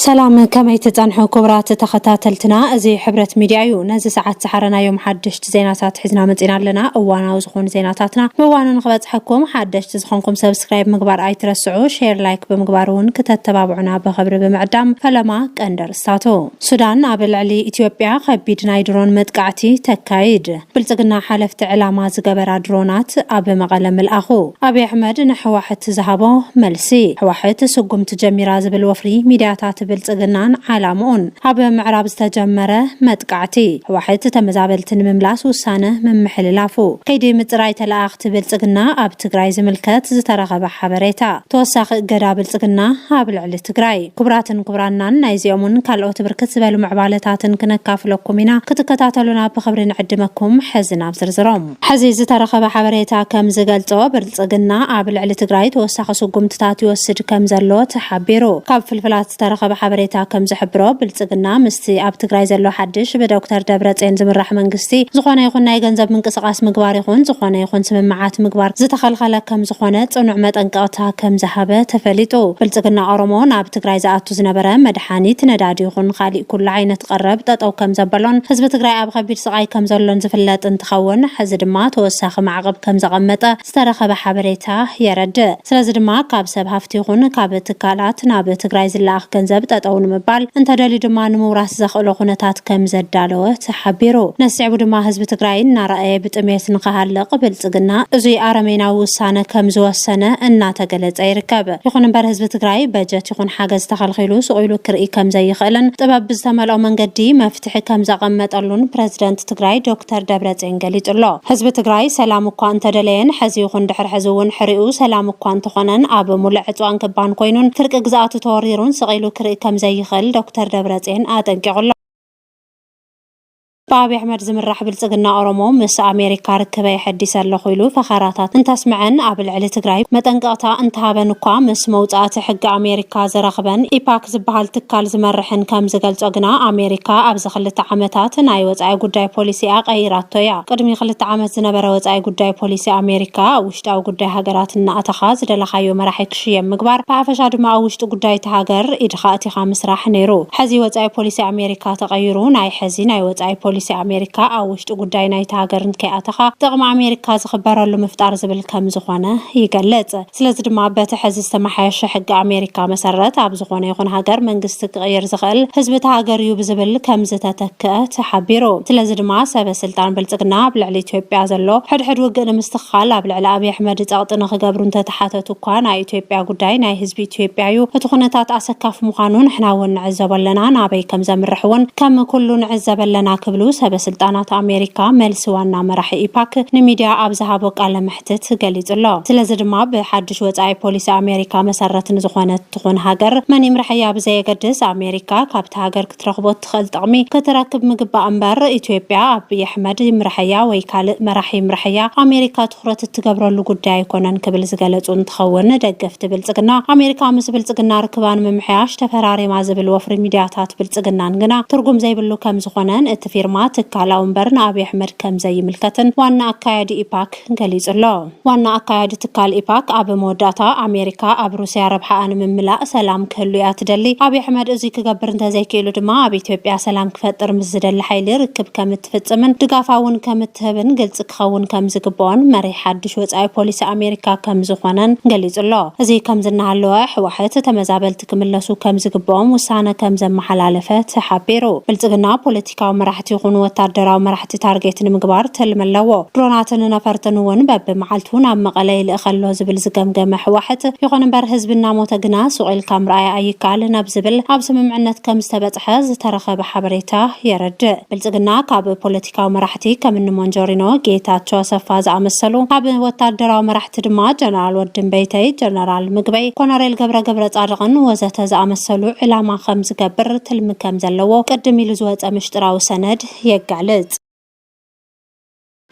ሰላም ከመይ ትጸንሑ ኩቡራት ተኸታተልትና እዚ ሕብረት ሚድያ እዩ ነዚ ሰዓት ዝሓረናዮም ሓደሽቲ ዜናታት ሒዝና መጺና ኣለና እዋናዊ ዝኾኑ ዜናታትና ብእዋኑ ንኽበጽሐኩም ሓደሽቲ ዝኾንኩም ሰብስክራይብ ምግባር ኣይትረስዑ ሼር ላይክ ብምግባር እውን ክተተባብዑና ብኽብሪ ብምዕዳም ፈለማ ቀንዲ ርስታቱ ሱዳን ኣብ ልዕሊ ኢትዮጵያ ከቢድ ናይ ድሮን መጥቃዕቲ ተካይድ ብልፅግና ሓለፍቲ ዕላማ ዝገበራ ድሮናት ኣብ መቐለ ምልኣኹ፣ ኣብይ ኣሕመድ ንሕዋሕት ዝሃቦ መልሲ፣ ሕዋሕት ስጉምቲ ጀሚራ ዝብል ወፍሪ ሚድያታት ብልፅግናን ዓላምኡን፣ ኣብ ምዕራብ ዝተጀመረ መጥቃዕቲ ሕዋሕት ተመዛበልቲ ንምምላስ ውሳነ ምምሕልላፉ፣ ከይዲ ምፅራይ ተለኣኣኽቲ ብልፅግና ኣብ ትግራይ ዝምልከት ዝተረኸበ ሓበሬታ፣ ተወሳኺ እገዳ ብልፅግና ኣብ ልዕሊ ትግራይ። ክቡራትን ክቡራናን ናይዚኦምን ካልኦት ብርክት ዝበሉ ምዕባለታትን ክነካፍለኩም ኢና ክትከታተሉና ብኽብሪ ንዕድመኩም ሕዚ ናብ ዝርዝሮም። ሕዚ ዝተረኸበ ሓበሬታ ከም ዝገልፆ ብልፅግና ኣብ ልዕሊ ትግራይ ተወሳኺ ስጉምትታት ይወስድ ከም ዘሎ ተሓቢሩ። ካብ ፍልፍላት ዝተረኸበ ሓበሬታ ከም ዝሕብሮ ብልፅግና ምስ እቲ ኣብ ትግራይ ዘሎ ሓድሽ ብዶክተር ደብረጼን ዝምራሕ መንግስቲ ዝኾነ ይኹን ናይ ገንዘብ ምንቅስቓስ ምግባር ይኹን ዝኾነ ይኹን ስምምዓት ምግባር ዝተኸልኸለ ከምዝኾነ ፅኑዕ መጠንቀቕታ ከምዝሃበ ተፈሊጡ። ብልፅግና ኦሮሞ ናብ ትግራይ ዝኣቱ ዝነበረ መድሓኒት፣ ነዳዲ ይኹን ኻሊእ ኩሉ ዓይነት ቐረብ ጠጠው ከምዘበሎን ህዝቢ ትግራይ ኣብ ኸቢድ ስቓይ ከምዘሎን ዝፍለጥ እንትኸውን ሕዚ ድማ ተወሳኺ ማዕቕብ ከምዘቐመጠ ዝተረኸበ ሓበሬታ የረድእ። ስለዚ ድማ ካብ ሰብ ሃፍቲ ይኹን ካብ ትካላት ናብ ትግራይ ዝለኣኽ ገንዘብ ጠጠው ንምባል እንተደልዩ ድማ ንምውራስ ዘኽእሎ ኩነታት ከምዘዳለወ ተሓቢሩ። ነዚ ስዒቡ ድማ ህዝቢ ትግራይ እናረኣየ ብጥሜት ንኽሃልቕ ብልፅግና እዙይ ኣረሜናዊ ውሳነ ከምዝወሰነ እናተገለፀ ይርከብ። ይኹን እምበር ህዝቢ ትግራይ በጀት ይኹን ሓገዝ ተኸልኺሉ ሱቕ ኢሉ ክርኢ ከምዘይኽእልን ጥበብ ብዝተመልኦ መንገዲ መፍትሒ መፍትሒ ከምዘቐመጠሉን ፕረዚደንት ትግራይ ዶክተር ደብረፅዮን ገሊፁ'ሎ። ህዝቢ ትግራይ ሰላም እኳ እንተደለየን ሕዚ ይኹን ድሕሪ ሕዚ እውን ሕሪኡ ሰላም እኳ እንተኾነን ኣብ ሙሉእ ዕፅዋን ክባን ኮይኑን ፍርቂ ግዝኣቱ ተወሪሩን ስቕ ኢሉ ክርኢ ከምዘይኽእል ዶክተር ደብረፅዮን ኣጠንቂቑ'ሎ። ብኣብይ ኣሕመድ ዝምራሕ ብልፅግና ኦሮሞ ምስ ኣሜሪካ ርክበይ ኣሐዲሰ ኣለኹ ኢሉ ፈኸራታት እንተስመዐን ኣብ ልዕሊ ትግራይ መጠንቀቕታ እንተሃበን እኳ ምስ መውፃእቲ ሕጊ ኣሜሪካ ኣሜሪካ ዘረኽበን ኢፓክ ዝበሃል ትካል ዝመርሕን ከም ዝገልጾ ግና ኣሜሪካ ኣብዚ ክልተ ዓመታት ናይ ወጻኢ ጉዳይ ፖሊሲኣ ቀይራቶ እያ። ቅድሚ ክልተ ዓመት ዝነበረ ወጻኢ ጉዳይ ፖሊሲ ኣሜሪካ ኣብ ውሽጣዊ ጉዳይ ሃገራት እናኣተኻ ዝደለኻዮ መራሒ ክሽየም ምግባር ብሓፈሻ ድማ ኣብ ውሽጢ ጉዳይ እታ ሃገር ኢድኻ ኣእቲኻ ምስራሕ ነይሩ። ሕዚ ወጻኢ ፖሊሲ ኣሜሪካ ተቐይሩ ናይ ሕዚ ናይ ወጻኢ ፖሊሲ ኣሜሪካ ኣብ ውሽጢ ጉዳይ ናይታ ሃገር እንከይኣተኻ ጥቕሚ ኣሜሪካ ዝኽበረሉ ምፍጣር ዝብል ከም ዝኾነ ይገልጽ። ስለዚ ድማ በቲ ሐዚ ዝተመሓየሸ ሕጊ ኣሜሪካ መሰረት ኣብ ዝኾነ ይኹን ሃገር መንግስቲ ክቕይር ዝኽእል ህዝቢ እታ ሃገር እዩ ብዝብል ከምዝተተክኣ ተሓቢሩ። ስለዚ ድማ ሰበ ስልጣን ብልፅግና ኣብ ልዕሊ ኢትዮጵያ ዘሎ ሕድሕድ ውግእ ንምስትኽኻል ኣብ ልዕሊ ኣብይ ኣሕመድ ፀቕጢ ንኽገብሩ እንተተሓተቱ እኳ ናይ ኢትዮጵያ ጉዳይ ናይ ህዝቢ ኢትዮጵያ እዩ እቲ ኩነታት ኣሰካፊ ምዃኑ ንሕና እውን ንዕዘቦ ኣለና ናበይ ከምዘምርሕ እውን ከም ኩሉ ንዕዘብ ኣለና ክብሉ ሰበ ስልጣናት ኣሜሪካ መልሲ ዋና መራሒ ኢፓክ ንሚድያ ኣብ ዝሃቦ ቃለ ክትት ገሊጹ ኣሎ። ስለዚ ድማ ብሓድሽ ወጻኢ ፖሊሲ ኣሜሪካ መሰረት ንዝኾነት ትኹን ሃገር መን ይምረሐያ ብዘየገድስ ኣሜሪካ ካብቲ ሃገር ክትረኽቦ እትኽእል ጥቕሚ ክትረክብ ምግባእ እምበር ኢትዮጵያ ኣቢይ ኣሕመድ ይምረሐያ ወይ ካልእ መራሒ ይምረሐያ ኣሜሪካ ትኹረት እትገብረሉ ጉዳይ ኣይኮነን ክብል ዝገለጹ እንትኸውን ደገፍቲ ብልጽግና ኣሜሪካ ምስ ብልጽግና ርክባ ንምምሕያሽ ተፈራሪማ ዝብል ወፍሪ ሚድያታት ብልጽግናን ግና ትርጉም ዘይብሉ ከምዝኾነን እቲ ፊርማ ትካላዊ እምበር ንኣብይ ኣሕመድ ከምዘይምልከትን ዋና ኣካያዲ ኢፓክ ገሊፁ'ሎ። ዋና ኣካያዲ ትካል ኢፓክ ኣብ መወዳእታ ኣሜሪካ ኣብ ሩስያ ረብሓኣ ንምምላእ ሰላም ክህሉ እያ ትደሊ፣ ኣብይ ኣሕመድ እዙይ ክገብር እንተዘይክኢሉ ድማ ኣብ ኢትዮጵያ ሰላም ክፈጥር ምስ ዝደሊ ሓይሊ ርክብ ከምትፍፅምን ድጋፋ እውን ከምትህብን ግልፂ ክኸውን ከምዝግበኦን መሪሕ ሓዱሽ ወፃኢ ፖሊሲ ኣሜሪካ ከምዝኾነን ገሊፁ'ሎ። እዙይ ከምዚ እናሃለወ ሕዋሕት ተመዛበልቲ ክምለሱ ከምዝግበኦም ውሳነ ከምዘመሓላለፈ ተሓቢሩ። ብልፅግና ፖለቲካዊ መራሕቲ ይኹኑ ወታደራዊ መራሕቲ ታርጌት ንምግባር ትልሚ ኣለዎ። ድሮናትን ነፈርትን እውን በቢመዓልቱ ናብ መቐለ ይልእኸ ኣሎ ዝብል ዝገምገመ ህወሓት፣ ይኹን እምበር ህዝቢ እናሞተ ግና ሱቕ ኢልካ ምርኣይ ኣይከኣልን ኣብ ዝብል ኣብ ስምምዕነት ከምዝተበፅሐ ዝተረኸበ ሓበሬታ የረድእ። ብልፅግና ካብ ፖለቲካዊ ፖለቲካዊ መራሕቲ ከም እኒ ሞንጆሪኖ፣ ጌታቸው ኣሰፋ ዝኣመሰሉ፣ ካብ ወታደራዊ መራሕቲ ድማ ጀነራል ወድምበይተይ፣ ጀነራል ምግበይ፣ ኮነሬል ገብረ ገብረፃድቕን ወዘተ ዝኣመሰሉ ዕላማ ከም ዝገብር ትልሚ ከም ዘለዎ ቅድም ኢሉ ዝወፀ ምሽጥራዊ ሰነድ የጋልፅ።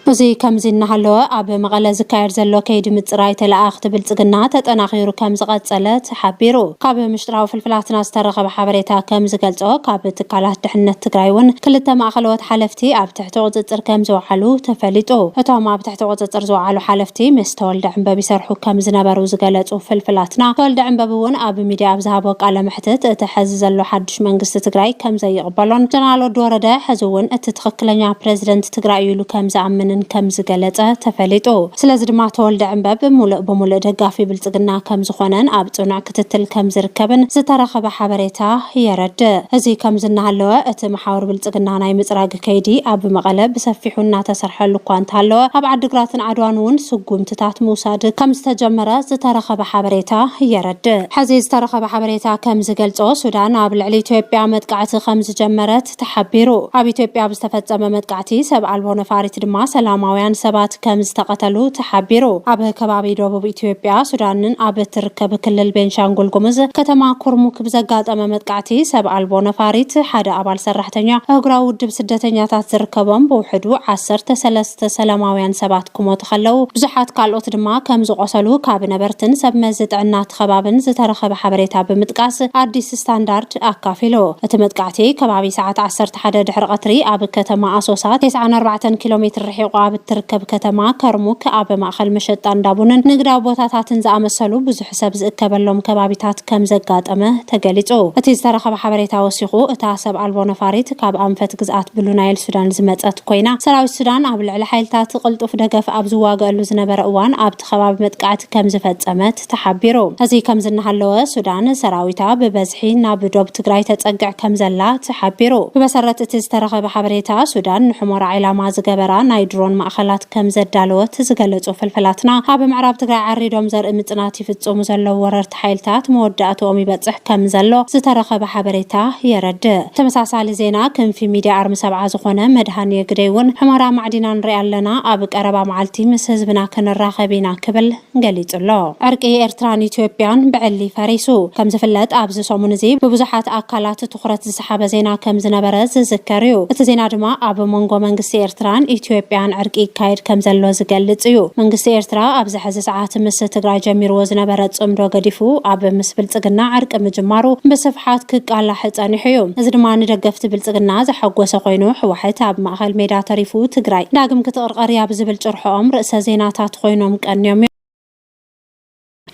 እዚ ከምዚ እናሃለወ ኣብ መቐለ ዝካየድ ዘሎ ከይዲ ምፅራይ ተለኣኣኽቲ ብልፅግና ተጠናኺሩ ከም ዝቐፀለ ሓቢሩ። ካብ ምሽጥራዊ ፍልፍላትና ዝተረኸበ ሓበሬታ ከም ዝገልጾ፣ ካብ ትካላት ድሕንነት ትግራይ እውን ክልተ ማእኸለዎት ሓለፍቲ ኣብ ትሕቲ ቁፅፅር ከም ዝወዓሉ ተፈሊጡ። እቶም ኣብ ትሕቲ ቁፅፅር ዝወዓሉ ሓለፍቲ ምስ ተወልደ ዕንበብ ይሰርሑ ከም ዝነበሩ ዝገለፁ ፍልፍላትና፣ ተወልደ ዕንበብ እውን ኣብ ሚድያ ኣብ ዝሃቦ ቃለ መሕትት እቲ ሐዚ ዘሎ ሓዱሽ ሓዱሽ መንግስቲ ትግራይ ከምዘይቕበሎን ጀነራል ወዲ ወረደ ሕዚ እውን እቲ ትኽክለኛ ፕረዚደንት ትግራይ እዩ ኢሉ ከምዝኣምንን ከምዝገለፀ ተፈሊጡ። ስለዚ ድማ ተወልደ ዕንበብ ሙሉእ ብሙሉእ ደጋፊ ብልፅግና ከምዝኾነን ኣብ ፅኑዕ ክትትል ከምዝርከብን ዝተረኸበ ሓበሬታ የረድእ። እዚ ከምዚ እናሃለወ እቲ መሓውር ብልፅግና ናይ ምፅራግ ከይዲ ኣብ መቐለ ብሰፊሑ እናተሰርሐሉ እኳ እንተሃለወ ኣብ ዓዲግራትን ዓድዋን እውን ስጉምትታት ምውሳድ ከምዝተጀመረ ዝተረኸበ ሓበሬታ የረድእ። ሐዚ ዝተረኸበ ሓበሬታ ከምዝገልፆ ሱዳን ኣብ ልዕሊ ኢትዮጵያ መጥቃዕቲ ከምዝጀመረት ተሓቢሩ። ኣብ ኢትዮጵያ ኣብ ዝተፈፀመ መጥቃዕቲ ሰብ ኣልቦ ነፋሪት ድማ ሰላማውያን ሰባት ከምዝተቐተሉ ተሓቢሩ። ኣብ ከባቢ ደቡብ ኢትዮጵያ ሱዳንን ኣብ እትርከብ ክልል ቤንሻንጉል ጉሙዝ ከተማ ኩርሙክ፣ ብዘጋጠመ መጥቃዕቲ ሰብ ኣልቦ ነፋሪት ሓደ ኣባል ሰራሕተኛ ኣህጉራዊ ውድብ ስደተኛታት ዝርከቦም ብውሕዱ ዓሰርተ ሰለስተ ሰላማውያን ሰባት ክሞቱ ከለው ብዙሓት ካልኦት ድማ ከምዝቖሰሉ ካብ ነበርትን ሰብ መዚ ጥዕና እቲ ከባብን ዝተረኸበ ሓበሬታ ብምጥቃስ ኣዲስ ስታንዳርድ ኣካፊሉ። እቲ መጥቃዕቲ ከባቢ ሰዓት ዓሰርተ ሓደ ድሕሪ ቐትሪ ኣብ ከተማ ኣሶሳ ቴስዓን ኣርባዕተን ኪሎ ሜትር ርሒቑ ኣብ እትርከብ ከተማ ከርሙክ ኣብ ማእኸል መሸጣ እንዳ ቡንን ንግዳዊ ቦታታትን ዝኣመሰሉ ብዙሕ ሰብ ዝእከበሎም ከባቢታት ከምዘጋጠመ ተገሊጹ። እቲ ዝተረኸበ ሓበሬታ ወሲኹ፣ እታ ሰብ ኣልቦ ነፋሪት ካብ ኣንፈት ግዝኣት ብሉ ናይል ሱዳን ዝመጸት ኮይና፣ ሰራዊት ሱዳን ኣብ ልዕሊ ሓይልታት ቅልጡፍ ደገፍ ኣብ ዝዋገኣሉ ዝነበረ እዋን ኣብቲ ከባቢ መጥቃዕቲ ከምዝፈጸመት ተሓቢሩ። እዚ ከምዚ እናሃለወ፣ ሱዳን ሰራዊታ ብበዝሒ ናብ ዶብ ትግራይ ተጸግዕ ከምዘላ ተሓቢሩ። ብመሰረት እቲ ዝተረኸበ ሓበሬታ፣ ሱዳን ንሑመራ ዒላማ ዝገበራ ናይ ድሮን ማእኸላት፣ ከም ዘዳለወት ዝገለፁ ፍልፍላትና፣ ኣብ ምዕራብ ትግራይ ዓሪዶም ዘርኢ ምፅናት ይፍፅሙ ዘለዉ ወረርቲ ሓይልታት መወዳእትኦም ይበፅሕ ከም ዘሎ ዝተረኸበ ሓበሬታ የረድእ። ተመሳሳሊ ዜና ክንፊ ሚድያ ኣርሚ ሰብዓ ዝኾነ መድሃኔ ግደይ እውን ሑመራ ማዕዲና ንሪኣ ኣለና፣ ኣብ ቀረባ መዓልቲ ምስ ህዝብና ክንራኸብ ኢና ክብል ገሊጹ'ሎ። ዕርቂ ኤርትራን ኢትዮጵያን ብዕሊ ፈሪሱ። ከም ዝፍለጥ ኣብዚ ሰሙን እዚ ብብዙሓት ኣካላት ትኹረት ዝሰሓበ ዜና ከም ዝነበረ ዝዝከር እዩ። እቲ ዜና ድማ ኣብ መንጎ መንግስቲ ኤርትራን ኢትዮጵያን ዕርቂ ይካየድ ከም ዘሎ ዝገልጽ እዩ። መንግስቲ ኤርትራ ኣብዚ ሕዚ ሰዓት ምስ ትግራይ ጀሚርዎ ዝነበረ ጽምዶ ገዲፉ ኣብ ምስ ብልጽግና ዕርቂ ምጅማሩ ብስፍሓት ክቃላሕ ጸኒሑ እዩ። እዚ ድማ ንደገፍቲ ብልጽግና ዘሐጎሰ ኮይኑ ሕዋሕት ኣብ ማእከል ሜዳ ተሪፉ ትግራይ ዳግም ክትቕረ ቀርያ ብዝብል ጭርሖኦም ርእሰ ዜናታት ኾይኖም ቀንዮም እዮም።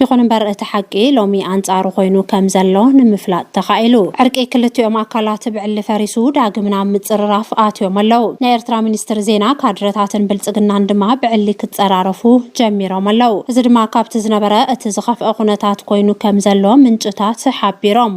ይኹን እምበር እቲ ሓቂ ሎሚ ኣንጻሩ ኮይኑ ከም ዘሎ ንምፍላጥ ተኻኢሉ። ዕርቂ ክልቲኦም ኣካላት ብዕሊ ፈሪሱ ዳግም ናብ ምጽርራፍ ኣትዮም ኣለው። ናይ ኤርትራ ሚኒስትሪ ዜና፣ ካድረታትን ብልጽግናን ድማ ብዕሊ ክጸራረፉ ጀሚሮም ኣለው። እዚ ድማ ካብቲ ዝነበረ እቲ ዝኸፍኣ ኩነታት ኮይኑ ከም ዘሎ ምንጭታት ሓቢሮም።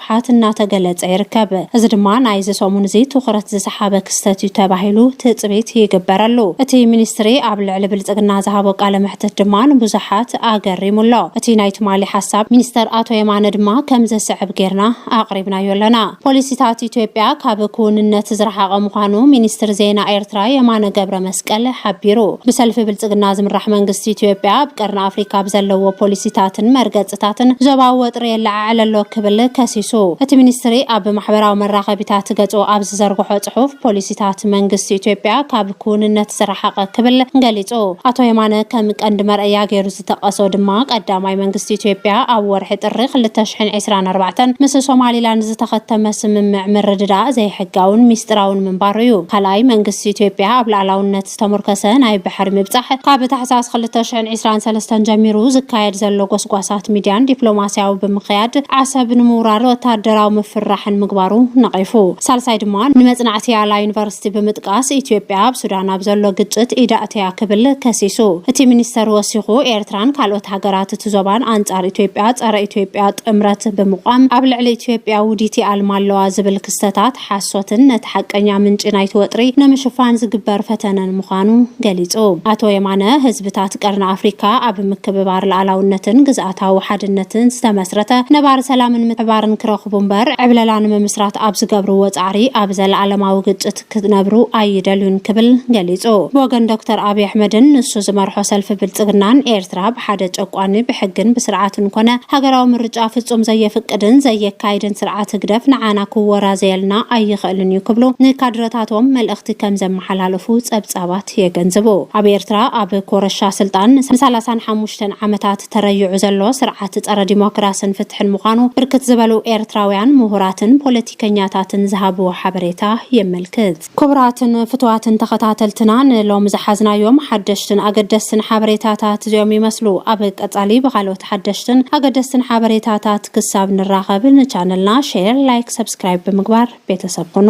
ምሕሓት እናተገለፀ ይርከብ። እዚ ድማ ናይዚ ሰሙን እዚ ትኹረት ዝሰሓበ ክስተት እዩ ተባሂሉ ትፅቢት ይግበረሉ። እቲ ሚኒስትሪ ኣብ ልዕሊ ብልፅግና ዝሃቦ ቃለ መሕትት ድማ ንብዙሓት ኣገሪሙ ኣሎ። እቲ ናይ ትማሊ ሓሳብ ሚኒስትር ኣቶ የማነ ድማ ከምዚ ዝስዕብ ገይርና ኣቕሪብናዮ ኣለና። ፖሊሲታት ኢትዮጵያ ካብ ክውንነት ዝረሓቐ ምዃኑ ሚኒስትር ዜና ኤርትራ የማነ ገብረመስቀል ቀለ ሓቢሩ። ብሰልፊ ብልፅግና ዝምራሕ መንግስቲ ኢትዮጵያ ኣብ ቀርኒ ኣፍሪካ ብዘለዎ ፖሊሲታትን መርገፅታትን ዞባዊ ወጥሪ የለዓዕል ኣሎ ክብል ከሲሱ። እቲ ሚኒስትሪ ኣብ ማሕበራዊ መራኸቢታት ገፁ ኣብ ዝዘርግሖ ፅሑፍ ፖሊሲታት መንግስቲ ኢትዮጵያ ካብ ክውንነት ዝረሓቐ ክብል ገሊፁ። ኣቶ የማነ ከም ቀንዲ መርኣያ ገይሩ ዝጠቀሶ ድማ ቀዳማይ መንግስቲ ኢትዮጵያ ኣብ ወርሒ ጥሪ ክልተ ሽሕን ዕስራን ኣርባዕተን ምስ ሶማሊላንድ ዝተኸተመ ስምምዕ ምርድዳእ ዘይሕጋውን ሚስጥራውን ምንባሩ እዩ። ካልኣይ መንግስቲ ኢትዮጵያ ኣብ ላዕላውነት ዝተሞርከሰ ናይ ባሕሪ ምብጻሕ ካብ ታሕሳስ ክልተ ሽሕን ዕስራን ሰለስተን ጀሚሩ ዝካየድ ዘሎ ጎስጓሳት ሚድያን ዲፕሎማሲያዊ ብምክያድ ዓሰብ ንምውራር ወታደራዊ ምፍርራሕን ምግባሩ ነቂፉ። ሳልሳይ ድማ ንመጽናዕቲ ኣላ ዩኒቨርሲቲ እቲ ብምጥቃስ ኢትዮጵያ ኣብ ሱዳን ኣብ ዘሎ ግጭት ኢዳ ኣእትያ ክብል ከሲሱ። እቲ ሚኒስተር ወሲኹ ኤርትራን ካልኦት ሃገራት እቲ ዞባን ኣንጻር ኢትዮጵያ ጸረ ኢትዮጵያ ጥምረት ብምቛም ኣብ ልዕሊ ኢትዮጵያ ውዲት ይኣልማ ኣለዋ ዝብል ክስተታት ሓሶትን ነቲ ሓቀኛ ምንጪ ናይቲ ወጥሪ ንምሽፋን ዝግበር ፈተነን ምዃኑ ገሊጹ። ኣቶ የማነ ህዝብታት ቀርኒ ኣፍሪካ ኣብ ምክብባር ልኣላውነትን ግዝኣትን ግዝኣታዊ ሓድነትን ዝተመስረተ ነባሪ ሰላምን ምሕባርን ክረኽቡ እምበር ዕብለላ ንምምስራት ኣብ ዝገብርዎ ፃዕሪ ኣብ ዘለኣለማዊ ግጭት ክነብሩ ኣይደልዩን ክብል ገሊፁ። ብወገን ዶክተር ኣብይ ኣሕመድን ንሱ ዝመርሖ ሰልፊ ብልፅግናን ኤርትራ ብሓደ ጨቋኒ ብሕግን ብስርዓትን ኮነ ሃገራዊ ምርጫ ፍፁም ዘየፍቅድን ዘየካይድን ስርዓት ህግደፍ ንዓና ክወራዘየልና ኣይኽእልን እዩ ክብሉ ንካድረታቶም መልእኽቲ ከምዘመሓላለፉ ፀብፃባት ሪፖርት የገንዝቡ። ኣብ ኤርትራ ኣብ ኮረሻ ስልጣን ንሳላሳን ሓሙሽተን ዓመታት ተረይዑ ዘሎ ስርዓት ጸረ ዲሞክራስን ፍትሕን ምዃኑ ብርክት ዝበሉ ኤርትራውያን ምሁራትን ፖለቲከኛታትን ዝሃብዎ ሓበሬታ የመልክት። ክቡራትን ፍቱዋትን ተኸታተልትና ንሎሚ ዝሓዝናዮም ሓደሽትን ኣገደስትን ሓበሬታታት እዚኦም ይመስሉ። ኣብ ቀጻሊ ብኻልኦት ሓደሽትን ኣገደስትን ሓበሬታታት ክሳብ ንራኸብ ንቻነልና ሼር፣ ላይክ፣ ሰብስክራይብ ብምግባር ቤተሰብ ኹኑ።